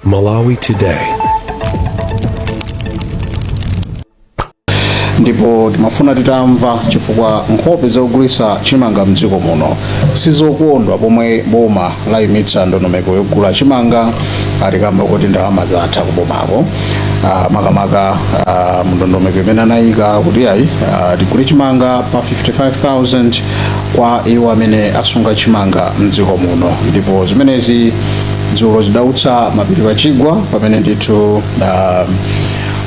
Malawi Today. ndipo timafuna titamva chifukwa nkhope zogulitsa chimanga mdziko muno sizokondwa pomwe boma layimitsa ndondomeko yogula chimanga ati kamba kuti ndalama zatha kubomako Ah, makamaka ah, mndondomeko imene anayika kuti ayi ah, tigule chimanga pa 55000 kwa iwo amene asunga chimanga mdziko muno ndipo zimenezi dzulo zidautsa mapiri pa chigwa pamene ndithu uh,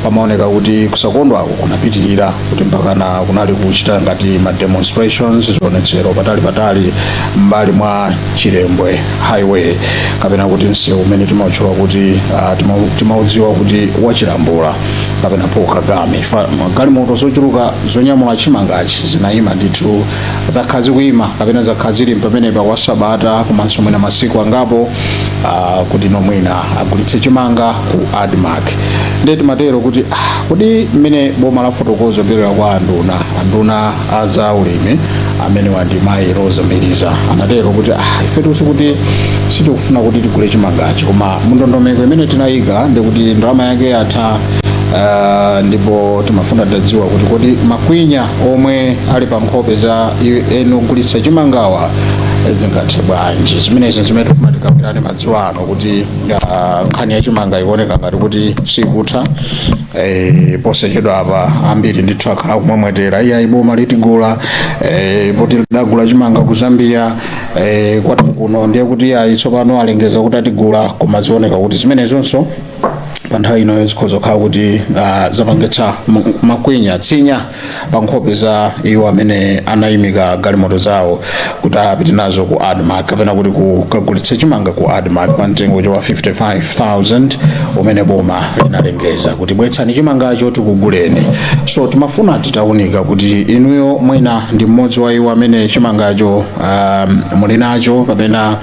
pamaoneka kuti kusakondwako kunapitirira kuti mpakana kunali kuchita ngati ma demonstrations zionetsero patali patali m'mbali mwa chilembwe highway kapena kuti msewu umene timautchula kuti uh, timaudziwa kuti wachilambula kapena paul kagame Fa- galimoto zochuluka zonyamula chimangachi zinayima ndithu zakhala zikuyima kapena zakhala zili pamenepa kwa sabata komanso mwina masiku angapo ah, kuti nomwina agulitse chimanga ku admark ndiye timatero kuti ah, kodi mmene boma lafotokozera kupyolera kwa anduna anduna a za ulimi amenewa ndi mayi Roza Mbilizi anatero kuti ah, ifetu si kuti sitikufuna kuti tigule chimangachi koma mundondomeko imene tinayika ndikuti ndalama yake yatha Uh, ndipo timafuna tidziwa kuti kodi makwinya omwe ali pa nkhope za eni ogulitsa chimangawa zingathe bwanji zimenezi zimene tifuna tikambirane madzulo ano kuti uh, nkhani ya chimanga ikuoneka ngati kuti sikutha Eh, posachedwa apa ambiri ndithu akhala kumwemwetera iyayi boma litigula eh, poti lidagula chimanga ku zambia eh, kwathu kuno ndiye kuti iyayi tsopano alengeza kuti atigula koma zioneka kuti zimenezonso pa nthawi ino zikhoza kukhala kuti ah, zapangitsa m- makwinya tsinya pa nkhope za iwo amene anayimika galimoto zawo kuti apite nazo ku admark kapena kuti kukagulitsa chimanga ku admark pa mtengo wa 55000 umene boma linalengeza kuti bwetsani chimangacho tikuguleni so timafuna titaunika kuti inuyo mwina ndi mmodzi wa iwo amene chimangacho um, muli nacho kapena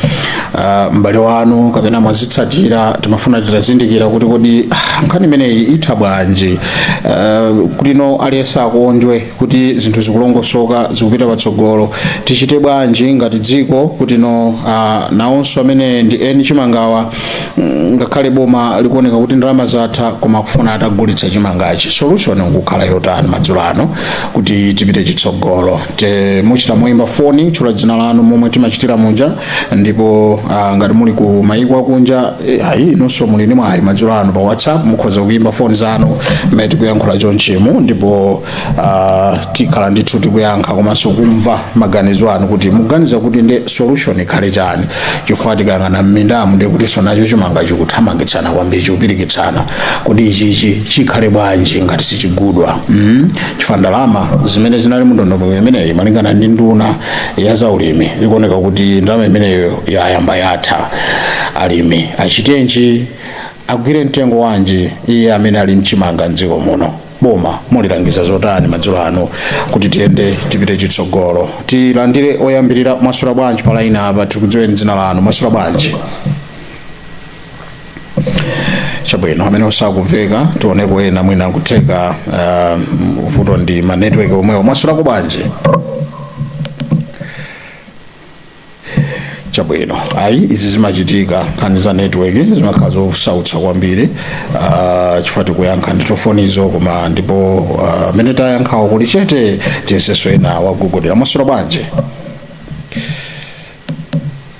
uh, m'bale wanu kapena mwazitsatira timafuna titazindikira kuti kodi ah, nkhani imeneyi itha bwanji uh, kutino aliyense akondwe kuti zinthu zikulongosoka zikupita patsogolo tichite bwanji ngati dziko kutino uh, nawonso amene ndi eni chimangawa mm, ngakhale boma likuoneka kuti ndalama zatha koma akufuna atagulitsa chimangachi solution nkukhala yotani madzulo ano kuti tipite chitsogolo Te- muchita moyimba foni tchula dzina lanu momwe timachitira muja ndipo ah, ngati muli ku mayiko akunja eh, ayi inunso muli ndi mwayi madzulo ano pa whatsapp mukhoza kuyimba foni zanu mmene tikuyankhula chonchemu ndipo ah, tikhala ndithu tikuyankha komanso kumva maganizo anu kuti muganiza kuti ndi solution ikhale chani chifukwa tikayang'ana mmindamu ndiye kuti nacho chimanga chikuthamangitsana kwambiri chikupirikitsana kuti ichichi chikhale bwanji ngati sichigulidwa mm? chifukwa ndalama zimene zinali mundondomeko imeneyi malingana ndi nduna ya zaulimi ikuoneka kuti ndalama imeneyo yayamba yatha alimi achitenji agwire mtengo wanji iye amene ali nchimanga mdziko muno boma mulilangiza zotani madzulo ano kuti tiyende tipite chitsogolo tilandire oyambirira mwaswera bwanji palaina apa tikudziweni dzina lanu mwaswera bwanji chabwino amene sakumveka tioneko ena mwina kutheka uh, vuto ndi ma network omwewo mwaswerako bwanji chabwino ayi izi zimachitika nkhani za network zimakhala zosautsa kwambiri uh, chifukwa tikuyankha nditofonizo koma ndipo uh, amene tayankhawo kuli chete tiyesenso ena wagogodera mwaswera bwanji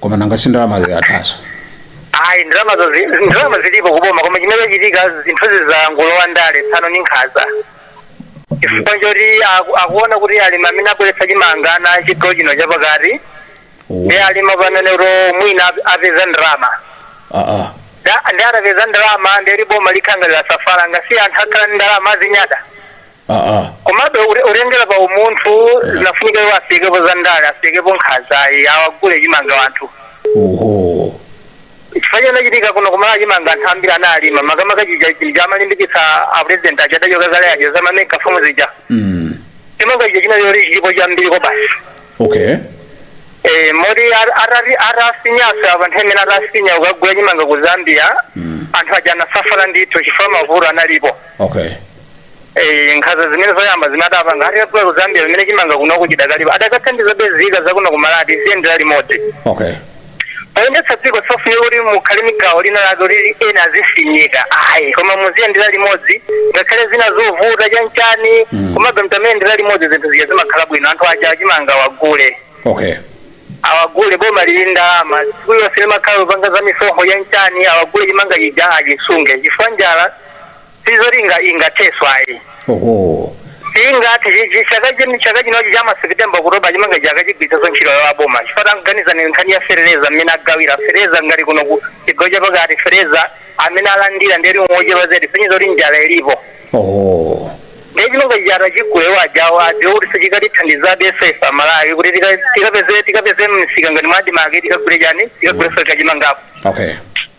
koma nanga si ndalamazo yathanso ayi ndalamazo zi- zi- ndalama zilipo kuboma koma chimene chachitika zinthuzi zangolowa ndale tsano ni nkhaza chifukwa choti aku- akuona kuti alimi amene abweretsa chimanga chigawo chino chapakati ndi alimi panenedi kuti mwina ap- apeza ndalama aa Nda- ndi atapeza ndalama ndiye boma likhala ngati lasafala ngati anthu akhala ndi ndalama azinyada aa komabe ute- utengera pa umunthu zinafunika iwo asiyepo za ndale asiyepo nkhazayi awagule chimanga wanthu oho chifukwa chinachitika kuno kuMalawi chimanga anthu ambiri analima makamaka chija chija amalimbikitsa apresident aja adachoka kale aja zamamega famu zija mm. chimanga chija chinali chilipo chambiri kobasi okay Eh, moti ar- arari- arasinyaso apa nthawi imene arasinya ukagula chimanga ku zambia anthu aja anasafala ndithu chifukwa mavuto analipo okay Eh, nkhaza zimene zoyamba zimene adapanga akagula kuzambia pamene chimanga kuno chidakalipo adakathandiza mzika zakuno kuMalawi tiziyendera limodzi okay oyendetsa dziko safunika kuti mukhale ndi gawo lina lake kuti ena azifinyika ayi koma muziyendera limodzi ngakhale zina zovuta chanchani komabe mukamayendera limodzi zinthu zija zimakhala bwino anthu aja chimanga awagule okay awagule boma lili ndalama tsiku lonse limakhala kupanga za misonkho chanchani awagule chimanga chija achisunge chifukwa njala sizoti zinga- zingatheke ayi oho ingati ichi chaka chino chaka chinochi cha maseptemba kutsogolo chimanga chikachi chigwiritsanso ntchito ya boma chifukwa tanganizani nkhani ya fereleza mmene agawira fereleza ngati kuno ku chigawo chapakati fereleza amene alandira ndi aliwonso ochepa zedi kusonyeza kuti njala ilipo oho ndiye chimanga chija chagulidwa ajawo adziwe kuti sichikatithandizabe ife amalawi kuti tika- tikapeze tikapeze msika ngati mwadimake tikagule chani tikagule fe kachimangapo okay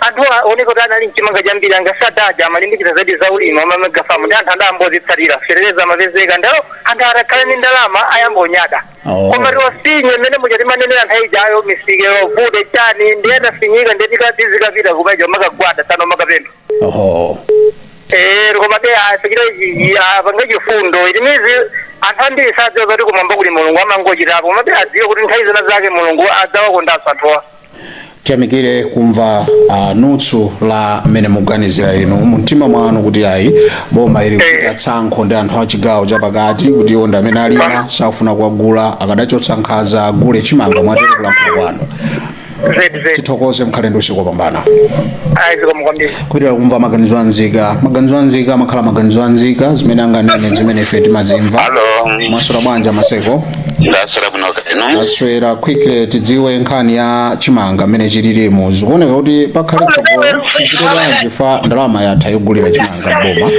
anthu aoneka kuti anali nchimanga chambiri a Ngwazi aja amalimbikitsa zedi za ulimi a ma mega famu ndi anthu adayamba ozitsatira fereleza amapezeka ndalama anthu atakhala ndi ndalama ayamba kunyada Oh. koma kutiwasinya mmene muja timanenera anthu ayijayo misika yovuta chani ndi anafinyika ndi tikatizikapita kumeneuja kumakagwada sana kumakapempha oho Eh, komabe asachite apange chifundo mmidzi anthu ambiri sadziwa kuti kumwamba kuli mulungu amangochitapo komabe adziwe kuti nthawi zina zake mulungu adzawakondanso anthuwa tiyamikire kumva uh, mfundo ya mmene muganizira inu mumtima mwanu kuti ayi boma ili kuchita tsankho ndi anthu a chigawo chapakati kuti iwo ndi amene alima sakufuna kuwagula akadachotsa nkhaza agule chimanga mwatero kulankhula kwanu zedi zedi tithokoze mukhale ndi usiku wopambana ayi zikomo kwambiri kupitirira kumva maganizo anzika maganizo anzika amakhala maganizo anzika zimene akunena zimene ife timazimva Hello. mwaswera bwanji maseko ndaswera bwino kaya inu ndaswera quickly tidziwe nkhani ya chimanga mmene chililimo zikuoneka kuti pakhale tsogolo tichite bwanji chifukwa ndalama yatha yogulira chimanga boma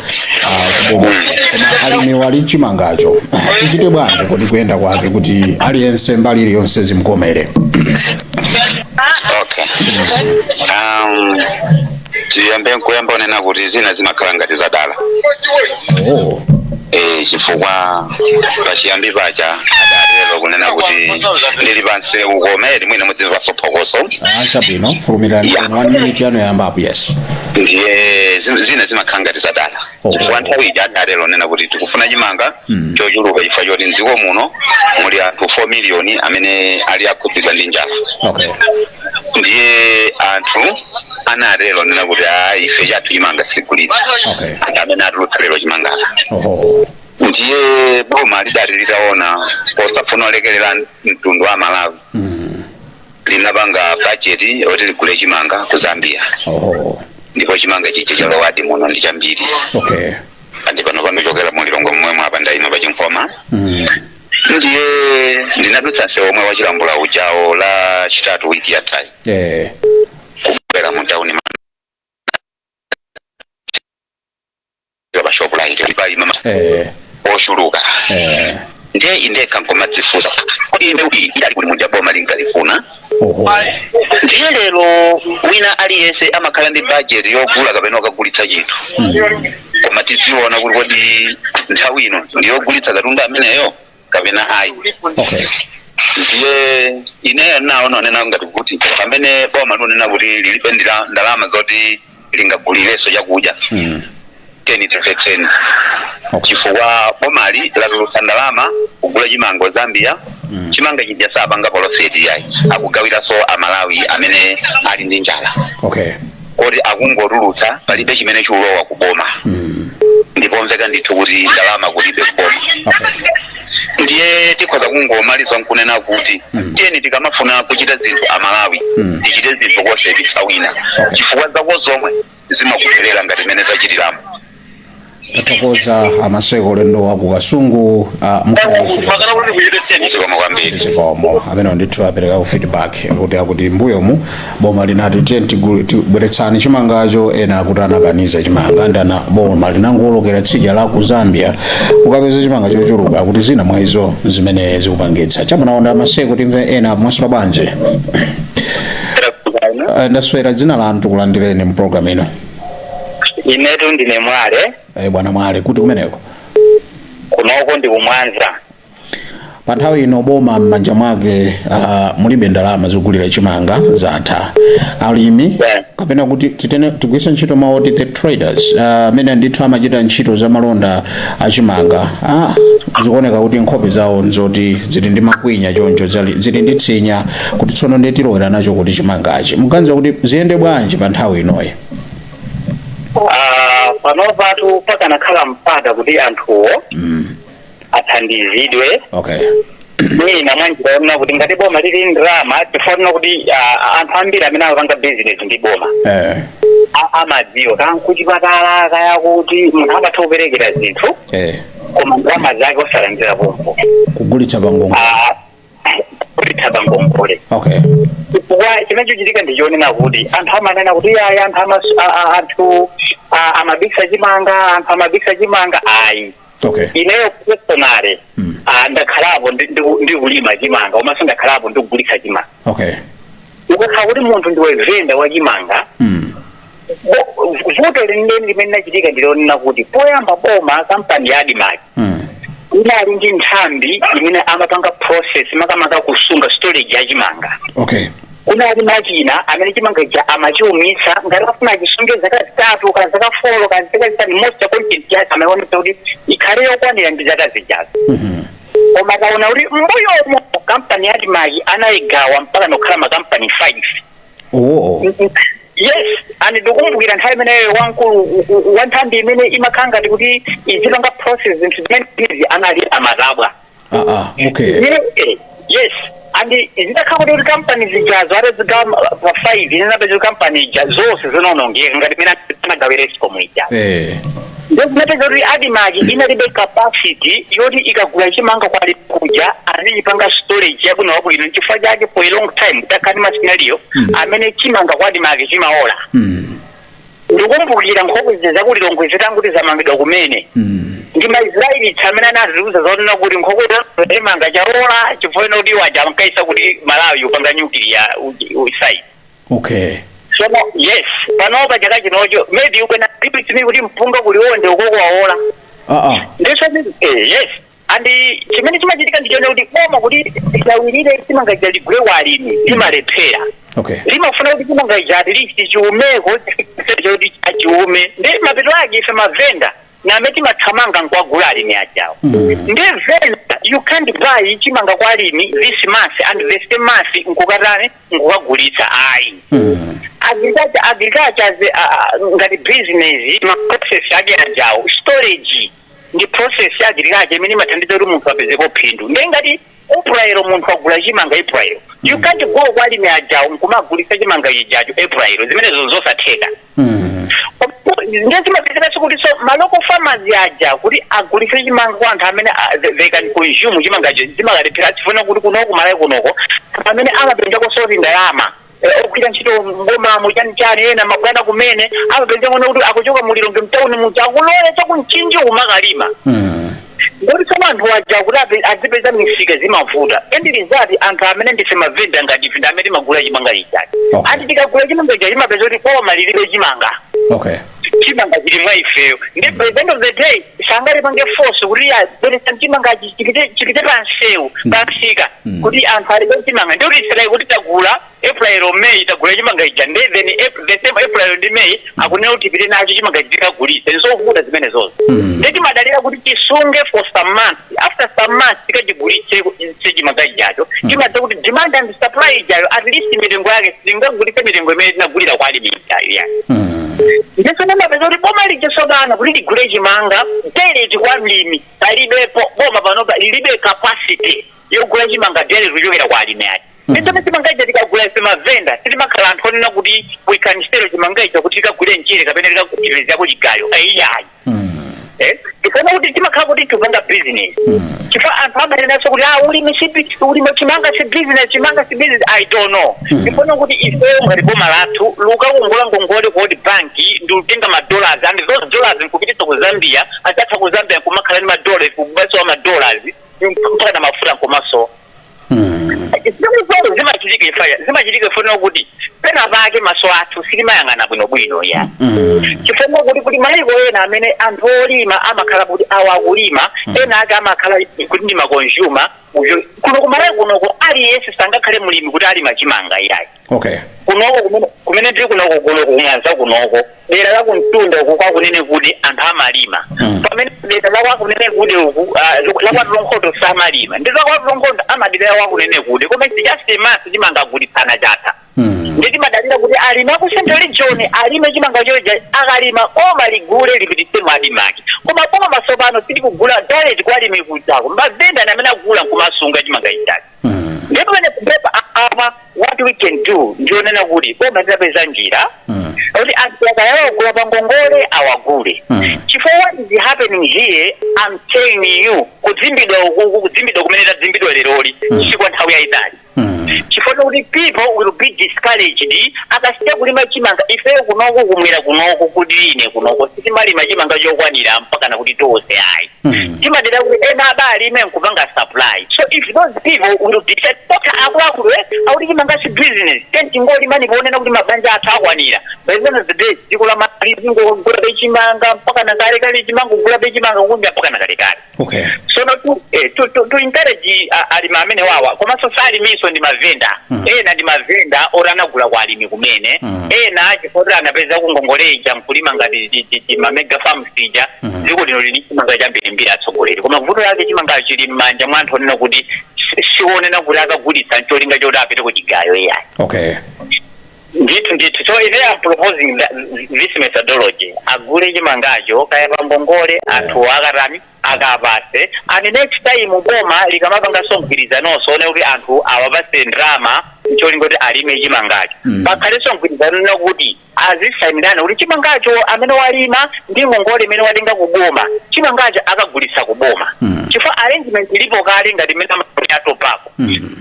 ah, kuboma koma alimiwo ali nchimangacho tichite bwanji kodi kuyenda kwake kuti aliyense mbali iliyonse zimkomere okay um, tiyambe nkuyamba kunena kuti zina zimakhala ngati zadala oh. e, chifukwa pachiyambi paja adatero kunena kuti ndili pansi kukomere mwina mudzimvaponso phokoso ah, chabwino fulumirani Yeah. pano one minute yanu yayamba yes ndiye zi- zina zimakhala ngati zadala Oh. chifukwa nthawi ija adatero kunena kuti tikufuna chimanga Mm. chochuluka chifukwa choti mdziko muno muli anthu 4 miliyoni amene ali akhudzidwa ndi njala okay ndiye anthu anatero kunena kuti a ife chathu chimanga sitigulitsa Okay. anthu amene atulutsa lero chimangacho oho ndiye boma lidati litaona posafuna kulekerera mtundu wa amalawi Mm. linapanga budget yoti ligule chimanga ku zambia oho ndipo chimanga chija chalowadi muno ndi chambiri okay and pano pangochokera mu lilongwe momwemu apa ndayima pa chinkhoma mm. ndiye ndinadutsa nsewu womwe wa chilambula ujawo lachitatu wiki yathayi eh. kubwera mu tauni ya pa shop light ndi pa ino eh ochuluka eh ndiye indekha nkumadzifunsa kodi ine kuti idali kuti muja boma linkalifuna oho ndiye lero wina aliyense amakhala ndi budget yogula kapena akagulitsa chinthu koma tidziona kuti kodi nthawi ino ndiyogulitsa katundu ameneyo kapena ayi okay ndiye ineyo naona onena ngati kuti pamene boma likunena kuti lilibe ndila- ndalama zoti lingagulireso chakudya mm. Tiyeni timvetseni okay chifukwa bomali latulutsa ndalama kugula chimanga Zambia Mm. chimanga chija sapanga polofeti yayi akugawiraso amalawi amene ali ndi njala okay kuti akungotulutsa palibe chimene chikulowa ku boma ndi pomveka ndithu kuti ndalama kulibe ku boma ndiye tikhoza kungomaliza nkunena kuti tiyeni tikamafuna kuchita zinthu amalawi tichite zinthu kosayipitsa wina chifukwa zako zomwe zimakupherera ngati mene zachitiramo tathokoza amaseko ulendo wa ku kasungu a mkuluso makana kuti kuchepetseni zikomo kwambiri zikomo amene ndithu apereka ku feedback kuti akuti mbuyomu boma linati tiye tigulu- tibweretsani chimangacho ena akuti anakaniza chimanga n'chana boma linangoolokera tsidya la ku zambia kukapeza chimanga chochuluka kuti zina mwa izo zimene zikupangitsa chamunaonda amaseko timve ena mwaswera bwanji Eh, ndaswera dzina lanu tikulandireni mu programu ino inetu ndine mwale Eh, bwana mwale kuti kumeneko kunoko ndi ku Mwanza pa nthawi ino boma m'manja mwake uh, mulibe ndalama zogulira chimanga chatha alimi Yeah. kapena kuti titene tigwiritse ntchito mawu oti the traders ah, amene uh, ndithu amachita ntchito za malonda a chimanga ah, zikuoneka kuti nkhope zawo nzoti zili ndi makwinya choncho zali- zili ndi tsinya kuti tsono ndiye tilowera nacho kuti chimangachi muganiza kuti ziyende bwanji pa nthawi inoyi Ah, panopatu pakanakhala mpata kuti anthuwo athandizidwe okay mwina mwanjira yonena kuti ngati boma lili ndrama tifuna kunena kuti ah, anthu ambiri amene akupanga bizinesi ndi boma eh a- amadziwa kaya kuchipatala kaya kuti munthu amatha kuperekera zinthu eh koma ndalama zake osalandira pompo kugulitsa pa ngongole Ah, kugulitsa pa ngongole okay chifukwa chimene chikuchitika ndi chonena kuti anthu amanena kuti ayi anthu amas- a- a- anthu a- amabisa chimanga anthu amabisa chimanga ayi okay ineyo personally ah, ndakhalapo ndi- ndi- ndikulima chimanga komanso ndakhalapo ndikugulitsa chimanga okay ukakhala kuti munthu ndiwe venda wa chimanga mm. Vu- vuto lenileni limene linachitika ndilonena kuti poyamba boma kampani ya admarc Mm. inali ndi nthambi imene amapanga process makamaka kusunga storage ya chimanga okay kunali machina amene chimanga chija amachiumitsa ngati afuna achisunge zaka zitatu ka zaka folo ka zaka five moisture content yake amaionetsa kuti ikhale yokwanira ndi zaka zijazo Mhm. koma akaona kuti mbuyomo kampani ya admarc anayigawa mpaka nokhala makampani 5 Oh. yes and ndikumbukira nthawi imeneyo wamkulu u- u- wa nthambi imene imakhala ngati kuti izipanga process zinthu zimenezi anali a Matabwa Ah, ah, okay. Zimene- eh, yes and zinakhala kuti kuti kampani zijazo atazigawa pa five zinapezeka kampani ija zonse zinaonongeka ngati mmene anagawira escom ija Eh. Ndiye zinapezeka kuti Admarc inalibe capacity yoti ikagula chimanga kwa alimi kuja azichipanga storage yabwinobwino nchifukwa chake for a long time takhala ndi ma scenario amene chimanga kwa Admarc chimaola Mm. ndikumbukira nkhokwe zaku Lilongwe zitangoti zamangidwa kumene Mm. ndi maisraeli amene anatiuza zonena kuti nkhokwe chimanga chaola chifukwa kuti aja ankayesa kuti malawi ukupanga nyukiliya site Okay. sono yes panopa chaka chinocho maybe you can agree with me kuti mpunga ku Liwonde ukoko wawola Ah ah. ndiso eh, yes and chimene chimachitika ndichonena kuti boma kuti lifulumire chimanga chija ligule kwa alimi limalephera Okay. limafuna kuti chimanga chija at least chiumeko kuti achiumitse ndi mapeto ake ife mavenda ndi amene timathamanga nkuwagula alimi ajawo nde then you can't buy chimanga kwa alimi this month and the same month nkukatani nkukagulitsa ayi agriculture agriculture as a- a- a- ngati business ma process ake ajawo storage ndi process ya agriculture imene imathandiza kuti munthu apezepo phindu nde ngati April munthu wagula chimanga April. You mm. can't go kwa alimi ajawo nkumagulitsa chimanga chijacho April. Zimenezo nzosatheka. Mm. Ndiye zimapezeka kuti so ma local farmers aja kuti agulitse chimanga kwa anthu amene ah, they can consume chimangacho zimalephereka chifukwa kuti kunoko kuMalawi kunoko amene amapezako sort of ndalama. ogwira ntchito m'bomamo chanichani ena mabwana amene amapezeka kuti akuchoka mu lilongwe mtauni muja akulowera chaku Mchinji kumakalima ndiye tsono anthu aja kuti ape- azipeza misika zimavuta end result anthu amene ndife mavenda ngati ife ndi amene timagula chimanga chija eti Okay. eti tikagula chimanga chija zimapezeka kuti boma lilibe chimanga okay chimanga chili mwa ifeyo ndi by the end of the day silingatipange force kuti ya bweretsani chimanga chi- chipite chipite pa msewu pa msika kuti anthu alibe chimanga ndiye mukuyesa kuti tagula april or may tagula chimanga chija ndi then Ap- the same april ndi may akunena kuti tipite nacho chimanga tikagulitse ndizovuta zimenezozo ndiye timadalira kuti tisunge for some months after some months tikachigulitse chimanga chijacho chimadza kuti demand and supply ijayo at least mitengo yake sitingagulitse mitengo imene tinagulira kwa alimi ijayo ya ndiye uzapeza kuti boma lija tsopano kuti ligule chimanga direct kwa mlimi palibepo boma panopa lilibe capacity yogula chimanga direct kuchokera kwa alimi ake ndiponso chimanga chija tikagula ife mavenda sitimakhala anthu onena kuti we can sell chimanga chija kuti tikagule mchere kapena tikagulireko chigayo aiyayi Eh, ndikuona kuti timakhala kuti tikupanga business chifukwa anthu amanenanso kuti ah ulimi si bi- ulimi chimanga si business chimanga si business i don't know ndikuona kuti ifeyo ngati boma lathu lukakongola ngongole ku world bank ndi kutenga madollars and those dollars nkupititsa ku zambia anzathu a ku zambia nkumakhala ndi madollars kumasowa madollars mpakana mafuta nkumasowa zimene zimachitika ifeyo zimachitika ifeyo kuti pena pake maso athu sitimayang'ana bwinobwino ya chifukwa kuti kuti maiko ena amene anthu olima amakhala kuti awa akulima ena ake amakhala kuti ndi makonzuma kuno kumalawi kunoko aliyense sangakhale mlimi kuti alima chimanga iyayi okay kunoko kumene kumene tiri kunoko kuno kumwanza kunoko dera la kumtunda uku kwa Kunenekude anthu amalima Mm. pamene dera la kwa Kunenekude uku ah, lo- la kwa Tulonkhondo samalima ndiye a kwa Tulonkhondo amadalira kwa Kunenekude koma it's just in March chimanga kugulitsana chatha Mm. ndiye timadalira kuti alime a ku central region alime chimanga chija akalima boma ligule lipititse mu ADMARC koma boma tsopano silikugula direct kwa alimi kuli mavenda ndi amene agula nkumasunga chimanga chijachi ndiye pamenepa apa what we can do ndi yonena kuti boma litapeza njira Mm. kuti anthu aja kaya ligula pa ngongole awagule Mm. chifukwa what is happening here i'm telling you kudzimbidwa ukuku kudzimbidwa kumene tadzimbidwa leroli si kwa nthawi yayitali Mm. chifukwa chakuti people will be discouraged akasiya kulima chimanga ifeyo kunoko kumwera kunoko kudziline kunoko sitimalima chimanga chokwanira mpakana kuti tonse ayi Hmm. timadalira kuti ena apa alime nkupanga supply so if those people will decide kuti akuluakulu eh, akuti chimanga si business then tingolima ndikuonena kuti mabanja athu akwanira by the end of the day dziko la Malawi lizingogulabe chimanga mpaka na kale kale chimanga kugulabe chimanga kunja mpaka na kale kale okay so no to, eh, to, to, to encourage uh, alimi amenewawa komanso si alimi onse ndi mavenda Mm. ena ndi mavenda oti anagula kwa alimi kumene Mm. ena chifukwa anapeza ngongole ija nkulima ngati ti- ti- ti mamega farm ija Mhm. dziko lino lili chimanga chambiri mbiri atsogoleri koma vuto yake chimangacho chili m'manja mwa anthu onena kuti si- si onena kuti akagulitsa ncholinga choti apite ku chigayo iyayi okay ndithu ndithu so if they are proposing that, this methodology agule chimangacho kaya pangongole anthuwo akatani akawapatse and next time boma likamapanganso mgwirizanonso wonena kuti anthu awapatse ndalama ncholinga kuti alime chimangacho Mm. pakhalenso mgwirizano wonena kuti azisainirana kuti chimangacho amene walima ndi ngongole imene watenga ku boma chimangacho akagulitsa ku boma chifukwa arrangement ilipo kale ngati imene amachitira a tobacco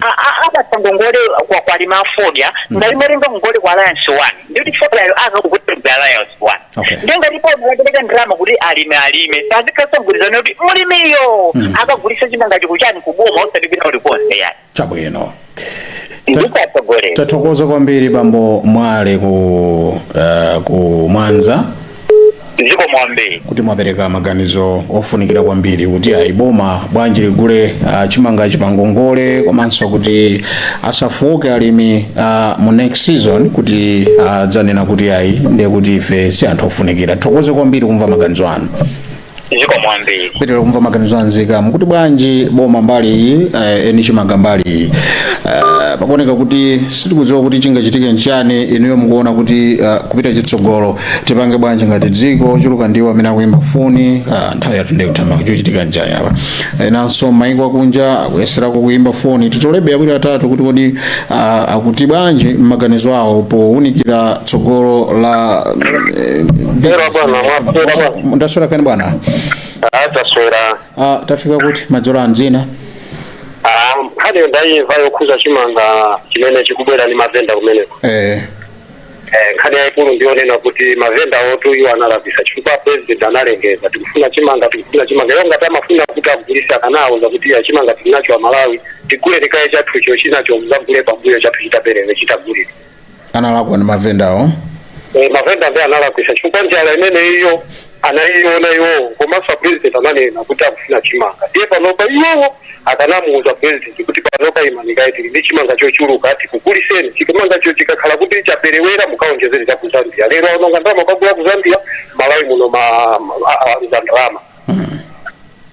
A- a- apatsa ngongole kwa kwa alimi a fodya ngati amatenga ngongole kwa alliance one ndikuti fodyayo akagulitsa alliance one Okay. ndiye ngati boma lapereka ndalama kuti alimi alime pazikhalaso mgwirizano kuti mulimiyo akagulitse chimangacho kuchani kuboma osati kwina kulikonse yani chabwino ndipo atsogoleri tathokoza kwambiri bambo mwale ku uh, ku mwanza zikomo kwambiri kuti mwapereka maganizo ofunikira kwambiri kuti ayi boma bwanji ligule uh, chimangachi pangongole komanso kuti asafooke alimi uh, mu next season kuti adzanena kuti ayi ndiye kuti ife si anthu ofunikira tithokoze kwambiri kumva maganizo anu zikomo kwambiri tipitiriza kumva maganizo a nzika mukuti bwanji boma mbali iyi eh, eni chimanga mbali iyi Eh, pakuoneka kuti sitikudziwa kuti chingachitike nchani inuyo mukuona kuti eh, kupita chitsogolo tipange bwanji ngati dziko ochuluka ndiwo amene akuyimba foni ah, nthawi yathu ndiye ikutha koma chochitika nchani apa enanso maiko akunja akuyeserako kuyimba foni titolebe maganizo awiri atatu kuti kodi ah, akuti bwanji m'maganizo awo pounikira tsogolo la eh, Hello bwana, mwaswera bwanji. ndaswera kaya inu bwana Ah, taswera. Ah, tafika kuti madzulo ano dzina Ah, hade ndaimva yokhuza chimanga chimene chikubwera ndi mavenda kumeneko. eh, Eh, nkhani yaikulu ndiyonena kuti mavendawotu iwo analakwisa chifukwa president analengeza tikufuna chimanga tikufuna chimanga iwo ngati amafuna kuti agulise akanawauza kuti iyayi chimanga tilinacho a malawi tiguleni kaye chathuchi chinacho muzagule pambuyo chathu chitaperere chitagulire analakwa ndi mavendawo Eh, mavenda ndiye analakwisa chifukwa njala imeneyo anayiona iwowo komanso apresident ananena kuti akufuna chimanga ndiye panopa iwowo akanamuuza president kuti panopa imani kaye tili ndi chimanga chochuluka tikuguliseni chimangacho chikakhala kuti chaperewera mukaonjezere cha ku zambia lero aononga ndalama kukagula ku zambia malawi muno ma- ma- a- a- za ndalama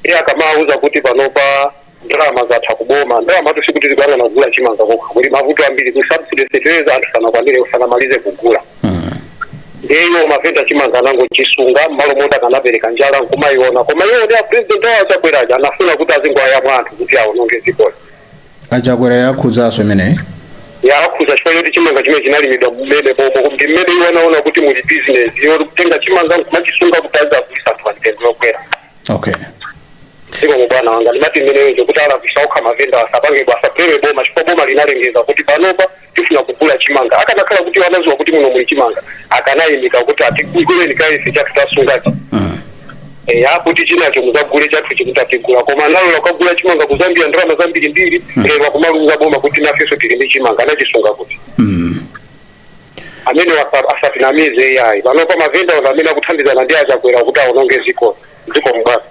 iye akamauza kuti panopa ndalama zatha kuboma ndalamatu sikuti zikuyang'ana kugula chimanga chokha kuli mavuto ambiri ku subsidy fertilizer anthu sanakwanire sanamalize kugula nde iwo mavenda chimanga anangochisunga mmalo moti akanapereka njala nkumayiona koma iwo ndi apresident awo a chakwera aja anafuna kuti azingowayamwa anthu kuti awononge dzikoli achakwera yakhuzaso imeneyi yakhuza chifukwa choti chimanga chimene chinalimidwa mmene pomwe ndi mmene iwo anaona kuti muli business iwo kutenga chimanga nkumachisunga kuti azagulise anthu pa mtengo wokwera okay zikomo bwana wanga ndemanga ndi imeneyo kuti alakwisa okha mavenda asapange za pressure boma chifukwa boma linalengeza kuti panopa tifuna kugula chimanga akanakhala kuti anaziwa kuti muno muli chimanga akanaimika kuti ayi tiguleni kaye ife chathu tasungachi Eh, apo ndiye chinacho muzagule chathu chitatha mutigula koma analola kukagula chimanga kuzambia ndalama zambirimbiri lero akumaliuza boma kuti nafeso tili ndi chimanga anachisunga kuti amene wasa- asatinamize iyayi panopa mavenda onse amene akuthandizana ndi achakwera kuti awononge dziko zikomo bwana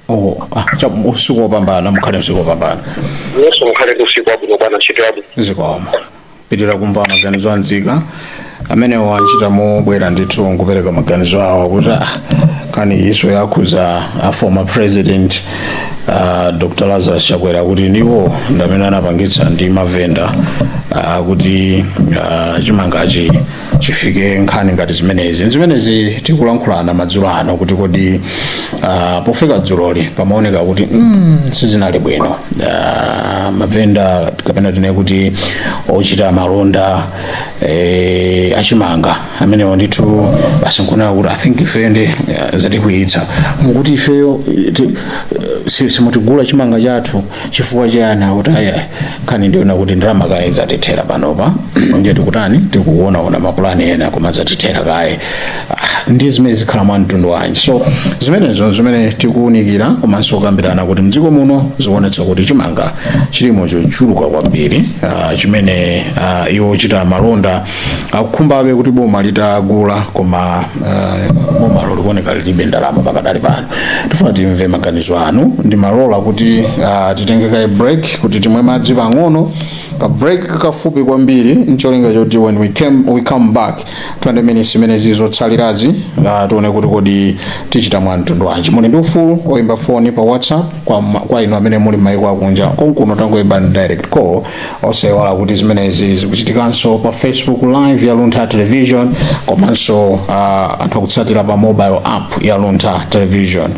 oh ah, cha usiku wopambana mukhale usiku wopambana yesu mukhale ndi usiku wabwino bwana ntchito yabwino zikomo potilora kumva maganizo a nzika amene wachita mobera ndithu nkupereka maganizo awo kuti ah, nkhaninso yakhudza a former president uh, dr lazarus chakwera kuti ndiwo ndamene anapangitsa ndi mavenda uh, kuti uh, chimangachi chifike nkhani ngati zimenezi ndi zimene tikulankhulana madzulo ano kuti kodi uh, pofika dzuloli pamaoneka kuti mm, sizinali bwino uh, mavenda kapena tinene kuti ochita malonda eh, achimanga amenewo ndithu basi nkunena kuti i think ifeyo ndi eh, zatikwiyitsa mukuti ifeyo eh, ti- eh, si- simutigula chimanga chathu chifukwa chiyani akuti ayi nkhani ndiyonena kuti ndalama kaye zatithera panopa ndiye tikutani tikuonaona mapulani ena koma zatithera kaye Ah, ndi zimene zikhala mwa mtundu wanji so zimenezo zimene tikuunikira komanso kukambirana kuti mdziko muno zikuonetsa kuti chimanga chilimo chochuluka kwambiri ah, chimene ah, iwo ochita malonda akukhumbabe kuti boma litagula koma eh, bomalo likuoneka lilibe ndalama pakadali pano tifuna timve maganizo anu ndiloleni kuti ah, titenge kaye break kuti timwe madzi pang'ono ka break kafupi kwambiri ncholinga choti when we, came, we come back 20 minutes imene zatsalirazi ah, tione kuti kodi tichita mwa mtundu wanji muli ndi ufulu oyimba foni pa whatsapp kwa, ma- kwa inu amene muli mmaiko akunja konkuno tangoyimbani direct call osaiwala kuti zimenezi zikuchitikanso pa facebook live ya luntha television komanso uh, anthu akutsatira pa mobile app ya luntha television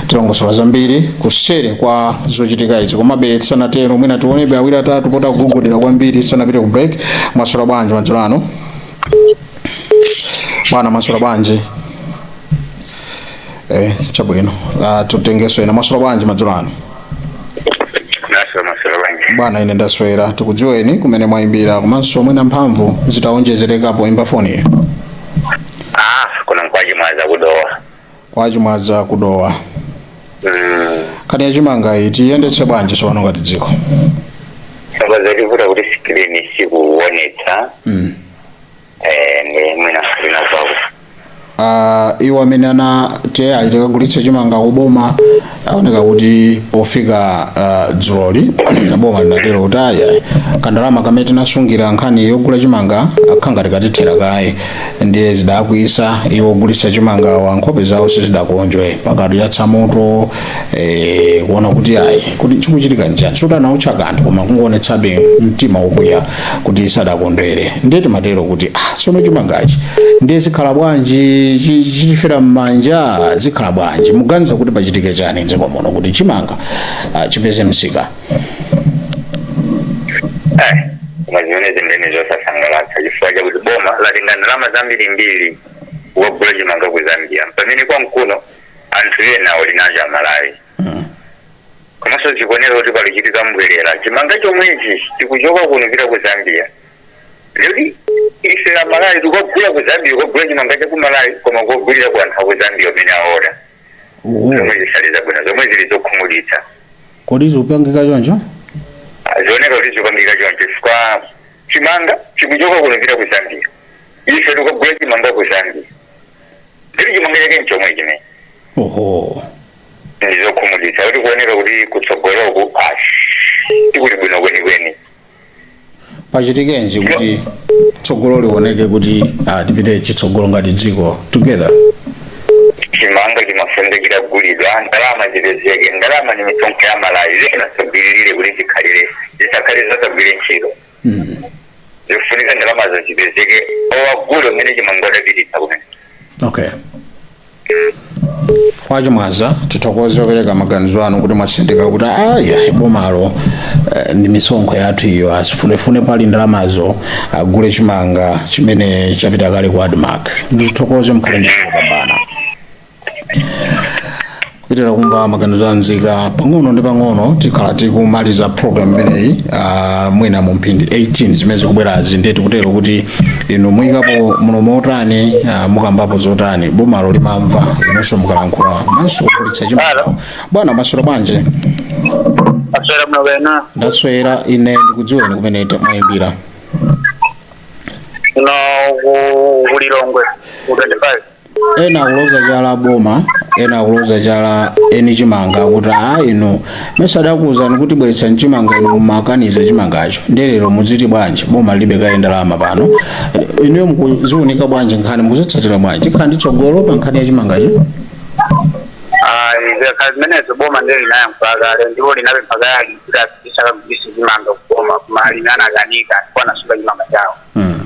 tilongosola zambiri kuseri kwa zochitika izi komabe tisanatero mwina tionebe awiri atatu poti akugogodera kwambiri tisanapite ku break mwaswera bwanji madzulo ano bwana mwaswera bwanji eh chabwino ah, titengenso ena mwaswera bwanji madzulo ano naso mwaswera bwanji bwana ine ndaswera tikudziweni kumene mwayimbira komanso mwina mphamvu zitawonjezereka poyimba foni iyo ah kuno nkwa Chimwaza ku Dowa kwa Chimwaza ku Dowa mm nkhani yachimanga iyi tiyendetse bwanji tsopano ngati dziko sound yativuta kuti screen sikuonetsa mm. eh, ndi mwina ndinazako Ah, iwo amene anati apite akagulitse chimanga kuboma aoneka kuti pofika ah, dzuloli boma linatero kuti ayi kandalama kamene tinasungira nkhani yogula chimanga kakhala ngati katithera kaye ndiye zidakwiyitsa iwo ogulitsa chimangawa nkhope zawo sizidakonjwe pakati yatsamuto eh, kuona kuti ayi kuti chikuchitika nchani sikuti anaotcha kanthu koma kungoonetsabe mtima wokwiya kuti sadakondwere ndiye timatero kuti ah, tsono chimangachi ndiye zikhala bwanji chi- chitifera m'manja zikhala bwanji muganiza kuti pachitike chani mdziko muno kuti chimanga ah, chipeze msika Eh, koma zimene zimene zosasangalatsa chifukwa chakuti boma latenga ndalama zambirimbiri kukagula chimanga ku zambia pamene kwathu kuno anthu ena ali nacho amalawi komanso zikuoneka kuti pakuchitika m'bwerera chimanga chomwechi chikuchoka kuno kupita ku zambia lero ife amalawi tikukagula ku zambia kugula chimanga cha ku malawi koma kugulira ku anthu aku zambia umene aona uwu zomwe zisali zabwino zomwe zili zokhumudwitsa kodi zikupangika choncho Ah, zioneka kuti zikupangika choncho chifukwa chimanga chikuchoka kuno kupita ku zambia ife tikukagula chimanga ku zambia ndiye chimanga chake nchomwe chimene oho ndizokhumudwitsa kuti kuoneka kuti kutsogoloku asi tikuli bwino kwenikweni pachitikenji kuti tsogolo lioneke kuti ah, tipite chitsogolo ngati dziko together chimanga chimafunika kugulidwa ndalama zipezeke ndalama ni misonkho ya amalawi zinasobiririre kuti zikhalire zisakhale zosagwira ntchito zofunika ndalamazo zipezeke akagule chimanga adapititsa kumene okay a chimwaza tithokoze opereka maganizo anu kuti mwatsindika kuti ayi bomalo eh, ndi misonkho yathu iyo azifunefune pali ndalamazo agule chimanga chimene chapita kale ku admark ndithokoze mukhale ndi lopambana kupitiriza kumva maganizo a nzika pang'ono ndi pang'ono tikhala tikumaliza program imeneyi ah, mwina mu mphindi 18 zimene zikubwerazi ndiye tikutero kuti inu muyikapo mlomo otani ah, mukambapo zotani bomalo limamva imeneyinso mukalankhula manso kukulitsa chimao Hello. bwana maswera bwanji ndaswera bwino kaya inu ndaswera ine ndikudziweni kumene mwayimbira no ku- ku lilongwe ku 25 ena akuloza chala boma ena akuloza chala eni chimanga kuti a inu mesa adakuwuzani kuti bweretsani chimanga inu mumakaniza chimangacho nde lero muziti bwanji boma lilibe kaye ndalama pano inuyo mukuziwunika bwanji nkhani mukuzitsatira bwanji nkhani ndi tsogolo pa nkhani ya chimangacho ayi zikakhala zimenezo boma ndiye linayankhula kale ndipo linapempha kale alimi kuti akagulitse chimanga kuboma koma anakanika ndipo anasunga chimanga chawo Mm.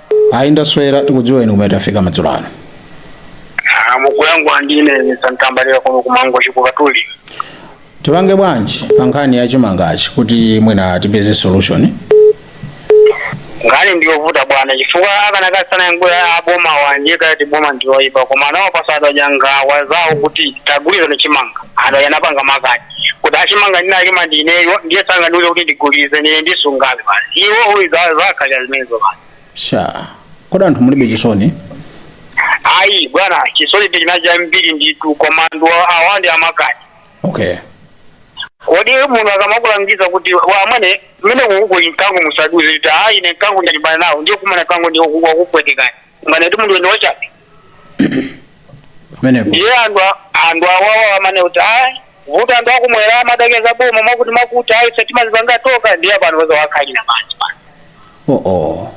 ayi ndaswera tikudziweni komwe tafika madzulo ano Ah, mukuyankhula ndine santambalira kuno ku mangochi kukatuli tipange bwanji pa nkhani ya chimangachi kuti mwina tipeze solution nkhani ndi yovuta bwana chifukwa akanakhala sanayankhe abomawa nde kuti boma ndi woyipa koma nawo pasadja anawauza kuti tagulitsani chimanga aja anapanga makani kuti chimanga ndinalima ndineyo ndiye sangandiuze kuti ndigulize ndine ndisungabe basi iwo uyu zakhalira zimenezo basi sha kodi anthu mulibe chisoni ayi bwana chisoni ndi china chambiri nditu koma ndi wa- awa ndi amakani okay kodi munthu akamakulangiza kuti wamwene mmenemu kuli mkango musadutse kuti ayi ine mkango ndalimbana nawo ndiye kukumana mkango ndiye wakupwetekani mwana ndi munthu weniwo chabe pamenepo ndiye anthu a- anthu awawa amanena kuti ayi vuto anthu akumwera amatakeza boma mwakuti mwakuti ayi ife timazipanga tokha ndiye pano peza wakhalira pansi pano oh oh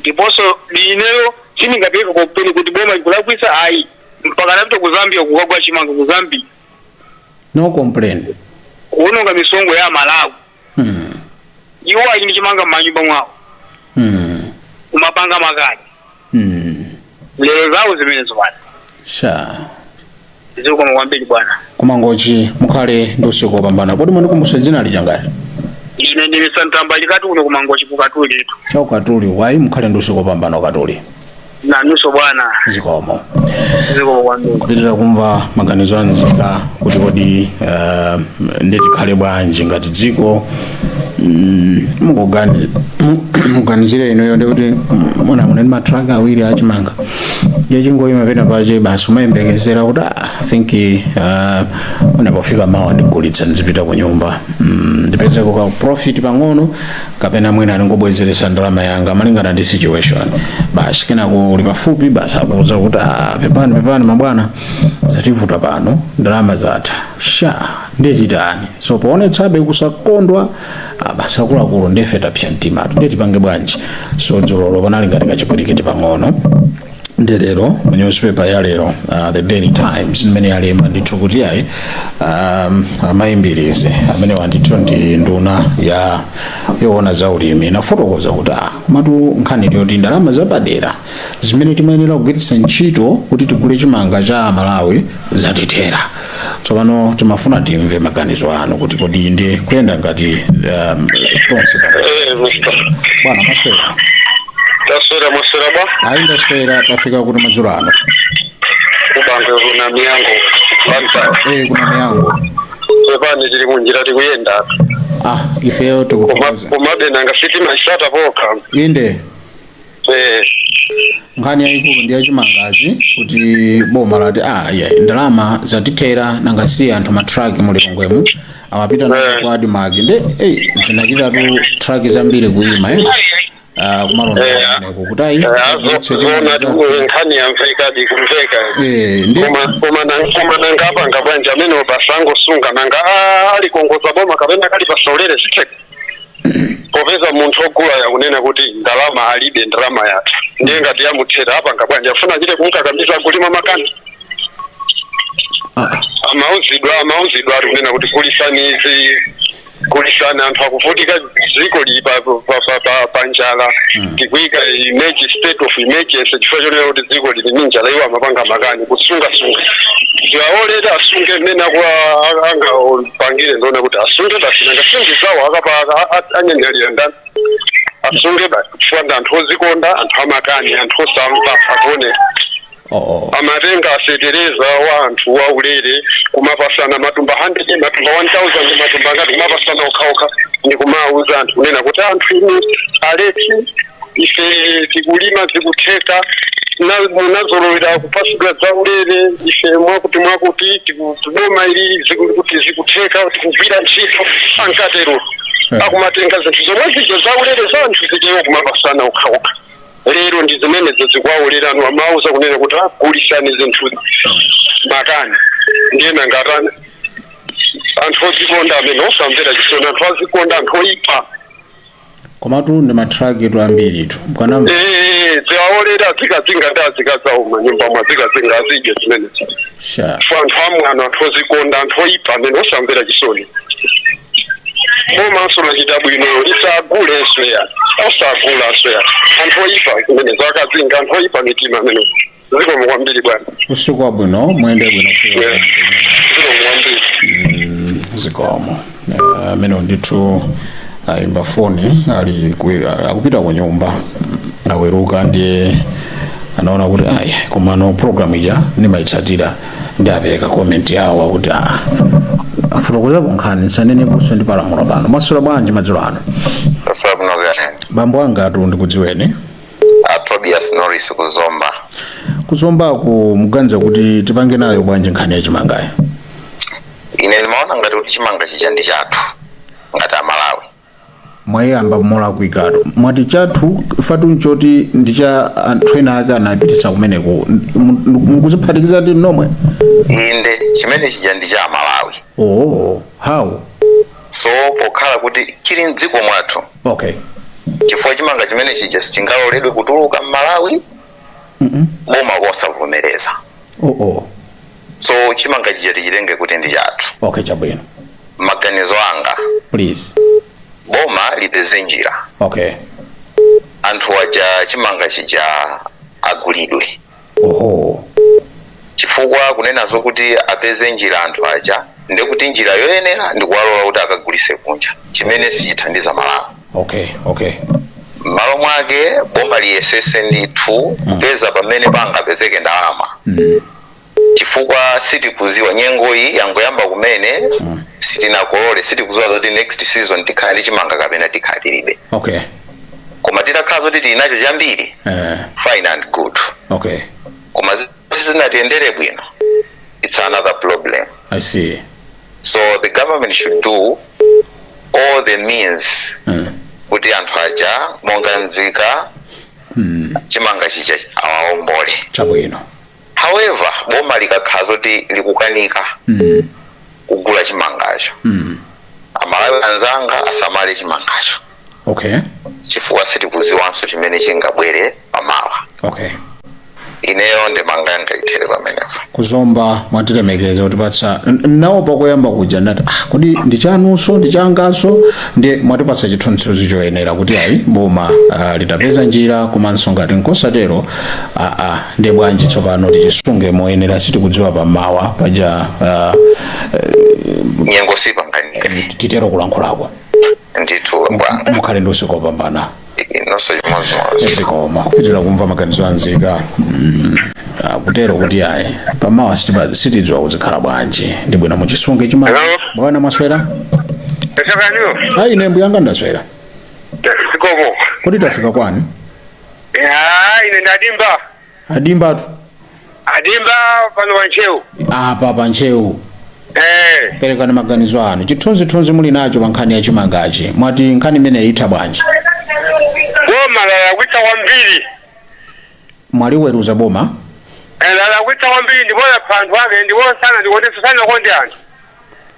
ndiponso ineyo sindingapereke complain kuti boma ikulakwisa ayi mpaka anapita ku zambia kukagula chimanga ku zambia no complain kuononga misonkho ya amalawi iwo ali ndi chimanga m'manyumba mwawo Mm. kumapanga makani Mm. lero zawo zimenezo bwana sha zikomo kwambiri bwana ku mangochi mukhale ndi usiku wopambana kodi mundikumbutse dzina lija ngati ine ndine santambalika kuno ku mangochi kukatulitu cha kukatuli wayi mukhale ndi usiku wopambana ukatuli nanuso bwana zikomo zikomo kwambiri kupitira kumva maganizo anzika kuti kodi eh, nde tikhale bwanji ngati dziko mm, mukugani- mu- muganizire inuyo ndikuti mwina muli ndi matraki awiri achimanga ndiye chingoyima pena pache basi umayembekezera kuti "Ah, i think eh, mwina pofika mawa ndigulitsa ndizipita ku nyumba Mm, ndipezeko ka profit pang'ono kapena mwina ndingobwezeretsa ndalama yanga malingana ndi situation basi kenako uli pafupi basi akuuza kuti "Ah, pepani pepani mabwana zativuta pano ndalama zatha sha ndiye titani so poonetsabe kusakondwa ah, basi akuluakulu ndife tapsa mtima tu ndiye tipange bwanji so dzulolo panali ngati kachipwirikiti pang'ono nde lero mu newspaper ya lero uh, the daily times imene yalemba ndithu kuti ayi um, a mayi mbilizi amenewa ndithu ndi nduna ya yoona za ulimi inafotokoza kuti ah, komatu nkhani yoti ndalama zapadera zimene timayenera kugwiritsa ntchito kuti tigule chimanga cha amalawi zatithera tsopano timafuna timve maganizo anu kuti kodi nde tikuyenda ngati um, tonse pa- Eh, Mr. bwana mwaswera Taswera mwaswera ba. ayi ndaswera tafika kuti madzulo ano Kubange kuna miyango. Banta. eh kuna miyango Pepani tili munjira tikuyenda. ah ifeyo Koma tikuthokoza komabe na ngafiti masata poka. inde Eh, nkhani yayikulu ndi yachimangachi kuti boma lati ah yeah, ndalama zatithera nanga si anthu matraki mu Lilongwemu amapita nazo ku ADMARC nde hey, zinachitatu traki zambiri kuyima eh? uh, kumalonda kumeneko kuti ayi yetse azaone chimanga chathu. nkhani yamveka ndi kumveka Eh, ndi koma koma na- koma nanga apanga bwanji amene upo asangosunga nanga ah, alikongoze boma kapena kalipase ulere sizitheka popeza munthu ogulayo akunena kuti ndalama alibe ndalama yatha ndiye ngati yamuthera apanga bwanji afuna achite kumkakamiza akulima makani Ah, amauzidwa amauzidwa ali kunena kuti gulisani izi gulisani anthu akuvutika dziko lili pa- pa- pa- pa- pa njala tikuika eme- state of emergency chifukwa chonena kuti dziko lili ni njala iwo amapanga makani kusungasunga ziwaolere asunge mmene akuwo anga pangire ndiwona kuti asunge basi nanga si ndi zawo akapanga anyanyalira ndani asunge basi chifukwa ndi anthu ozikonda anthu amakani anthu osamva akuone oo amatenga fetereza wa anthu waulere kumapasana matumba 100 matumba 1000 matumba angati kumapasana okhaokha ndi kumawuza anthu kunena kuti anthu inu aulesi ife tikulima zikutheka na- munazolowera kupasidwa zaulere ife mwakuti mwakuti tiku- boma ili tiku- kuti zikutheka tikugwira ntchito ankatero akumatenga zinthu zomwe zija zaulere za anthu zijazo kumapasana okhaokha lero ndi zimenezo zikuwaolerano amauzidwa kunena kuti gulisani zinthu makani ndiye nanga atani anthu ozikonda amene osamvera chisoni anthu ozikonda anthu oyipa komatu ndi matrakitu ambiritu mkanamva Eh, ziwaolere azikazinga ndi azikazawo manyumba mwao azikazinga azidye zimenezi sha fa anthu amwano anthu ozikonda anthu oyipa amene osamvera chisoni komanso lachita bwino lisagule asweya osagula asweya anthu oyipa zimenezo azikazinga anthu oyipa mitima amene zikomo kwambiri bwana usiku wabwino muyende bwino usiku wabwino. zikomo kwambiri Mm, zikomo Eh, amenewo ndithu ayimba foni ali ku- akupita ku nyumba aweruka ndiye anaona kuti ayi komano programu ija ndimayitsatira nde apereka komenti yawo akuti ah, afotokozapo nkhani saneneponso ndi Palamula pano mwaswera bwanji madzulo ano asalamu alaykum bambo angatu ndikudziweni a Tobias Norris ku Zomba. kuzombako muganiza kuti tipange nayo bwanji nkhani ya chimangayo Ine ndimaona ngati kuti chimanga chija ndi chathu ngati a Malawi. mwayamba molakwikatu mwati chathu phatu nchoti ndi cha anthu ena ake anapititsa kumeneko Mu- mu- mukuziphatikiza ndi nomwe Inde chimanga chija ndi cha a Malawi. oo how So pokhala kuti chili mdziko mwathu okay chifukwa chimanga chimene chija sichingaloledwe kutuluka m'malawi mm boma posavomereza oh oh so chimanga chija tichitenge kuti ndi chathu okay chabwino maganizo anga please boma lipeze njira okay anthu aja chimanga chija agulidwe Oho. chifukwa kunena zokuti apeze njira anthu aja nde kuti njira yoyenera ndikuwalola kuti akagulise kunja chimene sichithandiza Malawi. Okay, okay. Mmalo mwake boma liyesese ndithu kupeza pamene pangapezeke ndalama chifukwa sitikuziwa nyengoyi yangoyamba kumene sitinakolole sitikuziwa zoti next season tikhala ndi chimanga kapena tikhala tilibe Okay. koma titakhala zoti tili nacho chambiri eh, fine and good okay koma zi- sizinatiyendere bwino it's another problem i see so the government should do all the means mm. kuti anthu aja monga nzika chimanga chija awaombole chabwino however boma likakhala zoti likukanika mm. kugula chimangacho mm. amalawi anzanga asamale chimangacho okay chifukwa sitikuziwanso chimene chingabwere pamawa okay ineyo ndemanga yanga ithere pamenepo ku Zomba mwatilemekeza kutipatsa n- nawo pakoyamba kuja ndati ah, kodi ndichanunso ndichangaso ndi mwatipatsa chithunzithunzi choyenera kuti ayi boma ah, litapeza njira komanso ngati nkosatero ah, ah, Nde bwanji tsopano tichisunge moyenera sitikudziwa pamawa paja ah, nyengo sipanganika eh, titero kulankhulako ndithu bwana mukhale ndi usiku wopambana inonso chimodzimodzi zikomo kupitira kumva maganizo anzika Mm, ah, kutero kuti ayi pamawa sitipa- sitidziwa kuti zikhala bwanji ndi bwino muchisunge chima Hello? bwana mwaswera esakaniwo ayi ine mbuyanga ndaswera zikomo kodi tafika kwa ndani Ah, ine ndi a Dimba a Dimbatu a Dimba pano pa Ntcheu apa pa ntcheu eh. perekani maganizo anu chithunzithunzi muli nacho pa nkhani ya chimangachi mwati nkhani imeneyi itha bwanji boma lalakwitsa kwambiri mwaliweruza boma Eh, lalakwitsa kwambiri ndipo lapha anthu ake ndipo sana ndikuonetsa sanakonde anthu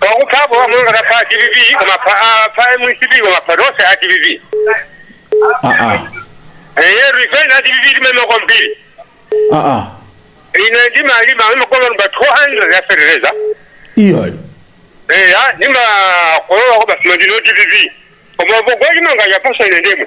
pakupha apo monga akupha a dpp koma apha- apha mcp koma apha tonse a dpp aa eye resign a dpp timalima kwambiri aa ine ndimalima ndimakolola matumba 200 ya fertilizer iyayi eya ndimakolola kwa basima ndino dpp koma pogwa chimanga chapasa ine ndemwe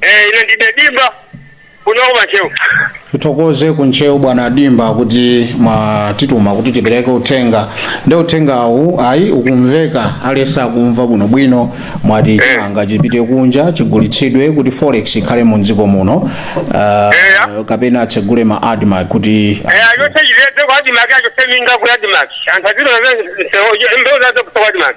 Eh, ine ndine dimba kuno ku Ntcheu. tithokoze ku ntcheu bwana dimba kuti mwatituma kuti tipereke uthenga nde uthengawu ayi ukumveka aliyense akumva bwinobwino mwati chimanga chipite kunja chigulitsidwe kuti forex ikhale mu dziko muno uh, Eya. kapena atsegule ma admarc kuti Eh, yose yirete kwa admarc yose minga kwa admarc. Anthu aziro nze mbewu zawo kwa admarc.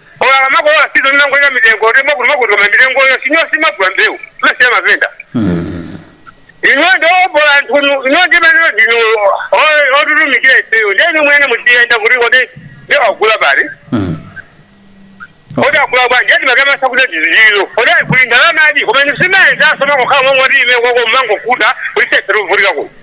Olo akamakolola season amangoika mitengo kuti mwakuti mwakuti koma mitengoyo sinyo samagula mbewu amasiya mavenda inu ndiobola nthunu inu ndi amene ndinu otitumikira ifeyo ndeni mwene mutiyenda kuti kodi nde wagula pati kodi agula bwanji ndeti makamasa kuti tizililo kodi kuli ndalama adi koma nisimene zasoma kukhala momwe kuti ime koko mmangokuta kuti seferuvulikako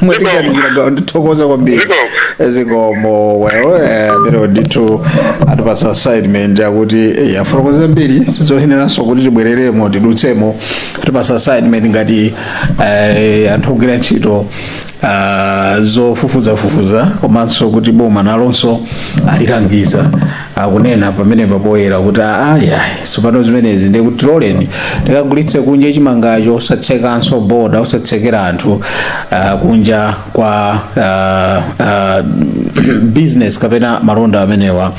mwatiganizira gawo tathokoza kwambiri Zikomo. zikomo well eh, lero ndithu atipasa assignment yakuti eh, afotokoza zambiri sizoyeneranso kuti tibwereremo tidutsemo atipasa assignment ngati eh, anthu ogwira ntchito ah, zofufuzafufuza komanso kuti boma nalonso alilangiza akunena pamenepa poyera kuti ayi tsopano zimenezi ndi kuti tiloleni tikagulitse kunja chimangacho osatsekanso boda osatsekera anthu uh, kunja kwa uh, uh, business kapena malonda amenewa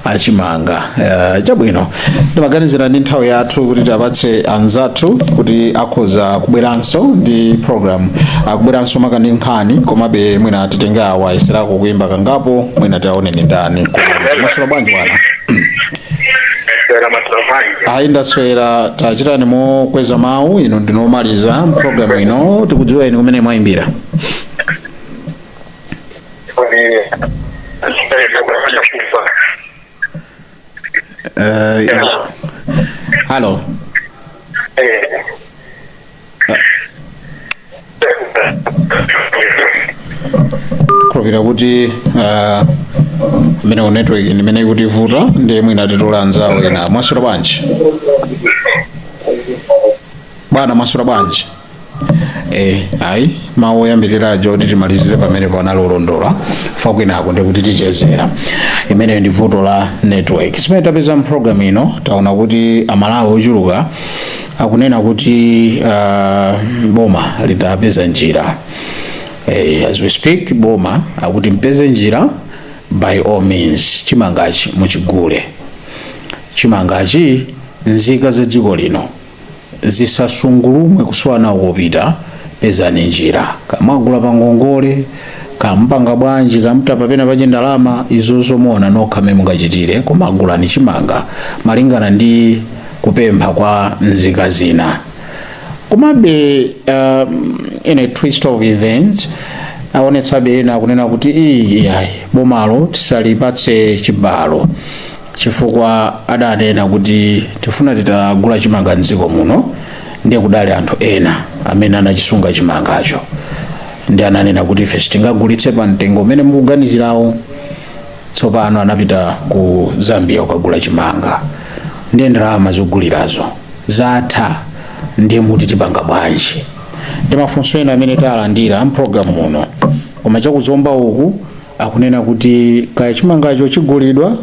achimanga uh, chabwino ndimaganizira ndi nthawi yathu kuti tiwapatse anzathu kuti akhoza kubweranso ndi program akubweranso mukani nkhani komabe mwina titenge awa ayeserako kuimba kangapo mwina taone ni ndani mwaswera bwanji bwana Sera matramanyi. ayi ndaswera tachitani mokweza mawu ino ndinomaliza programu ino tikudziweni kumene mwayimbira Kwa nini? Sasa kwa kufanya Eh, halo ndikukhulupirira kuti ah, ameneyu network ndi imene ikutivuta ndiye mwina titole anzawo ena mwaswera bwanji bwana mwaswera bwanji Eh, ayi mawu oyambirira aja oti timalizire pamene panali olondola apa kwinako ndikuti tichezera imeneyo ndi vuto la network zimene tapeza mpulogalamu ino taona kuti amalawi ochuluka akunena kuti uh, boma litapeza njira eh, as we speak boma akuti mpeze njira by all means chimangachi muchigule chimangachi nzika za dziko lino zisasungulumwe kusowa nawo kopita pezani njira kamaguleni pa ngongole kaya mupanga bwanji kaya mutapa pena pache ndalama izozo muona nokha mmene mungachitire koma gulani chimanga malingana ndi kupempha kwa nzika zina komabe um, in a twist of events aonetsabe ena akunena kuti iyayi bomalo tisalipatse chibalo chifukwa adanena kuti tikufuna titagula chimanga mdziko muno ndiye kudali anthu ena amene anachisunga chimangacho ndi ananena kuti ife sitingagulitse pa mtengo umene mukuganizirawo tsopano anapita ku zambia kukagula chimanga ndiye ndalama zogulirazo zatha ndiye muti tipanga bwanji ndi mafunso ena amene talandira mpulogalamu muno koma cha ku zomba uku akunena kuti kaya chimangacho chigulidwa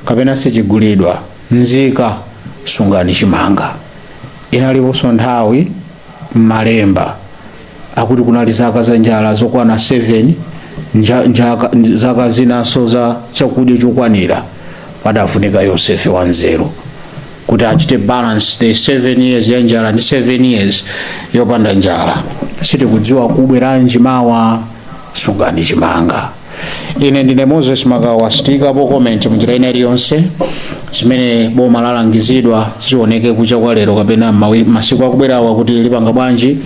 kapena sichigulidwa, nzika sungani chimanga. Inaliponso nthawi m'Malemba akuti kunali zaka za njala zokwana 7, zaka zinanso za chakudya chokwanira. Padafunika Yosefe wanzeru kuti achite balance the 7 years ya njala ndi 7 years yopanda njala. Sitikudziwa kubweranji mawa. sungani chimanga ine ndine moses makawa sitiikapo comment munjira ina iliyonse zimene boma lalangizidwa zioneke kucha kwa lero kapena mawi- masiku akubwerawa kuti lipanga bwanji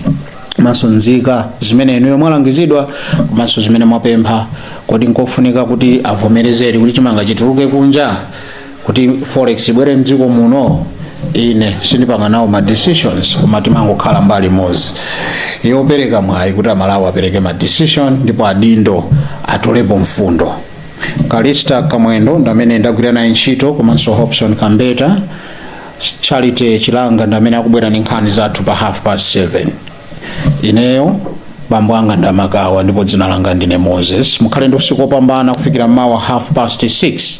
komanso nzika zimene inuyo mwalangizidwa komanso zimene mwapempha kodi nkofunika kuti avomerezere kuti chimanga chituluke kunja kuti forex ibwere mdziko muno ine sindipanga nawo ma decisions koma timangokhala mbali imodzi yopereka mwayi kuti amalawi apereke ma decision ndipo adindo atolepo mfundo kalista kamwendo ndamene ndagwira naye ntchito komanso hobson kambeta charity chilanga ndamene akubwera ndi nkhani zathu pa half past 7 ineyo bambo anga ndamakawa ndipo dzina langa ndine moses mukhale ndi usiku wopambana kufikira m'mawa half past 6